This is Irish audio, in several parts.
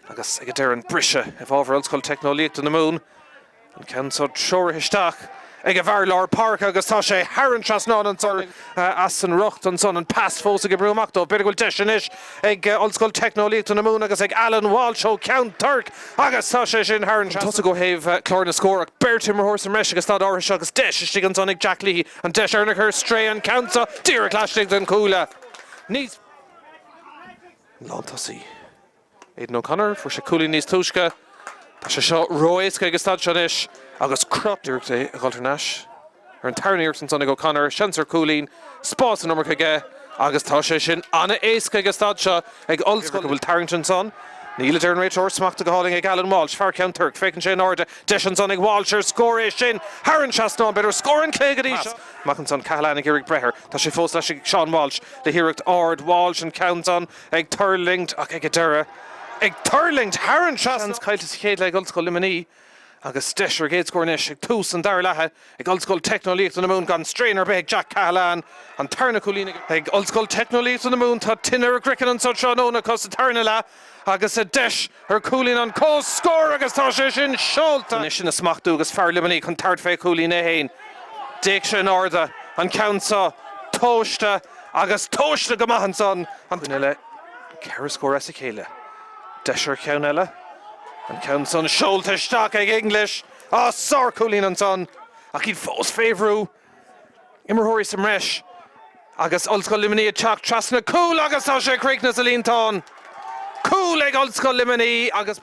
Agus ag an deireadh an briseadh i bhfabhar Ollscoil Teicneolaíochta na Mumhan. An ceann seo treoraithe isteach ag an bhfear lár páirce agus tá sé thar an trasnán anso as an rucht san ansan. An pas fós ag oibriú amach dóibh. B'fhéidir go bhfuil deis anois ag Ollscoil Teicneolaíochta na Mumhan agus ag Alan Walsh ó Ceann Toirc agus tá sé sin thar an tosaigh ó thaobh chlár na scór acu beirt imreoir sa mbreis agus ag an staid áirithe seo agus deis istigh ansan ag Jack Leahy. An deis á cur ar strae an ceann seo díreach laistigh den chúl. Níos. Lántosaí. Aidan O'Connor, fuair sé cúilín níos túisce. Tá sé seo ró-éasca ag an staid seo anois agus crot díreach é a dhul thar an trasnán. Ar an tarna iarracht ansan ag O'Connor, seans ar cúilín, spás san iomarca aige agus tá sé sin an-éasca ag an staid seo ag Ollscoil a bhfuil tarraingt ansan. Níl, a deir an réiteoir, smachta go hálainn ag Alan Walsh, fear Cheann Toirc. Féachann sé in airde, deis ansan ag Walsh ar scór, é sin thar an trasnán, b'fhéidir scór an lae go dtí seo. Amach ansan, Cahalane ag iarraidh breith air, tá sé fós laistigh ag Seán Walsh le hiarracht ard, Walsh an ceann san, Ag tuirlingt ach ag an deireadh. Ag tuirlingt thar an trasnán. Seans caillte sa chéad leath ag Ollscoil Luimnigh agus deis ar a gcéad scór anois ag tús an dara leatha ag Ollscoil Teicneolaíochta na Mumhan gan straidhn ar bith ag Jack Cahalane, an tarna cúilín ag. Ag Ollscoil Teicneolaíochta na Mumhan tá tine ar a gcroiceann anso tráthnóna acu sa tarna leath agus deis Chuir Cúilín an cos scor agus tá sé sin seolta. Anois á smachtú agus fear Luimnigh chun tabhairt fé Chúilín é fhéin. D'fhéach sé in airde an ceann so tomhaiste agus tomhaiste go maith ansan. An duine le ceithre scór as a chéile. Deis ar cheann eile. An ceann san seolta isteach ag English. Á sárchúilín ansan. Ach iad fós fé bhrú. Imreoirí sa mbreis agus Ollscoil Luimnigh ag teacht trasna cúil agus tá sé ag críochnú sa líontán. Cúl ag Ollscoil Luimnigh agus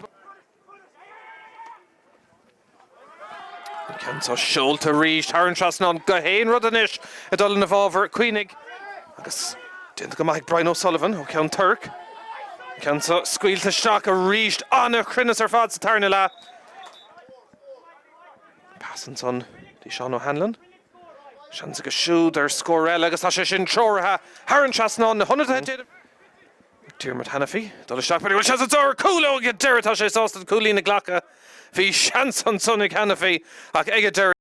an ceann seo seolta arís thar an trasnán gach aon rud anois ag dul ina bhfabhar. Luimnigh agus déanta go maith ag Brian O'Sullivan ó Cheann Toirc. An ceann seo scaoilte isteach arís. An cruinneas ar fad sa tarna leath. Pas ansan go dtí Seán O'Hanlon. Seans aige siúd ar scór eile agus tá sé sin treoraithe thar an trasnán. Na hionadaithe déanamh ag Diarmuid Hanafy ag dul isteach. B'fhéidir go bhfuil seans anso ar chúl ó ag an deireadh. Tá sé sásta an cúilín a ghlacadh. Bhí seans ansan ag Hanafy ach ag an deireadh.